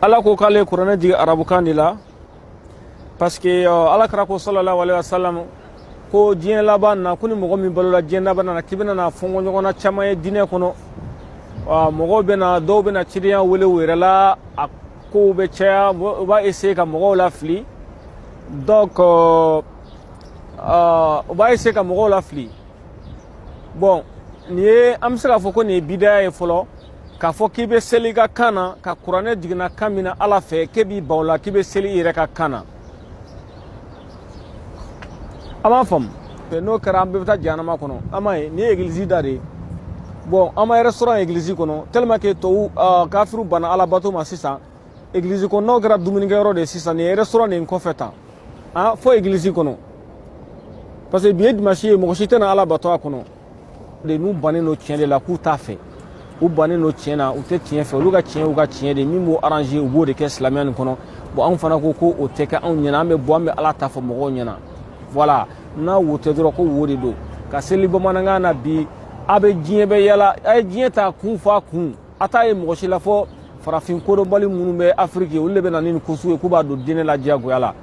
ala ko k'ale ye kuranɛ jigin arabukan de la parce que ala kira ko sallallahu alaihi wasallam ko diɲɛ laban na ko ni mɔgɔ min balola diɲɛ laban na k'i bɛna na fɔnkɔ ɲɔgɔn na caman ye diinɛ kɔnɔ mɔgɔw bɛna dɔw bɛna cidenya wele u yɛrɛ la a kow bɛ caya u b'a essayer ka mɔgɔw lafili donc u b'a essayer ka mɔgɔw lafili bon nin ye an bɛ se k'a fɔ ko nin ye bidaya ye fɔlɔ k'a fɔ k'i bɛ seli i ka kan na ka kuranɛ jiginna kan min na ala fɛ k'e b'i ban o la k'i bɛ seli i yɛrɛ ka kan na a m'a faamu n'o kɛra an bɛɛ bɛ taa jahanama kɔnɔ an m'a ye nin ye egilizi da de ye bon an m'a ye restaurant egilizi kɔnɔ tellement que tɔw kafiriw banna alabato ma sisan egilizi kɔnɔnaw kɛra dumunikɛyɔrɔ de ye sisan nin ye restaurant de kɔfɛ tan a fo egilizi kɔnɔ parce que bi ye dimansi ye mɔgɔ si tɛ na ala bato a kɔnɔ de n'u bannen don tiɲɛ de la k'u t'a fɛ u bannen don tiɲɛ na u tɛ tiɲɛ fɛ olu ka tiɲɛ y'u ka tiɲɛ de min b'u arranger u b'o de kɛ silamɛya nin kɔnɔ bon anw fana ko ko o tɛ kɛ anw ɲɛna an bɛ bɔ an bɛ ala ta fɔ mɔgɔw ɲɛna voilà n'a wo tɛ dɔrɔn ko wo de don ka seli bamanankan na bi a bɛ diɲɛ bɛɛ yaala a ye diɲɛ ta kun f'a kun a t'a ye mɔgɔ si la fo farafin kodɔnbali minnu bɛ afiriki olu de bɛ na ni nin kosugu ye k'u b'a don diinɛ la diyagoya la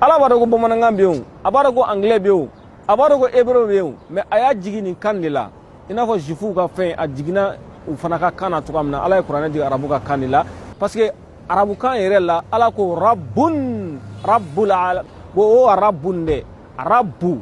ala b'a dɔn ko bamanankan bɛ yen a b'a dɔn ko angilɛ bɛ yen a b'a dɔn ko hebreu bɛ yen mais a y'a jigin nin kan de la i n'a fɔ zifuw ka fɛn a jiginna u fana ka kan na cogoya min na ala ye kuranɛ jigin arabu ka kan de la parce que arabukan yɛrɛ la ala ko rabun rabul alamin o rabun de rabu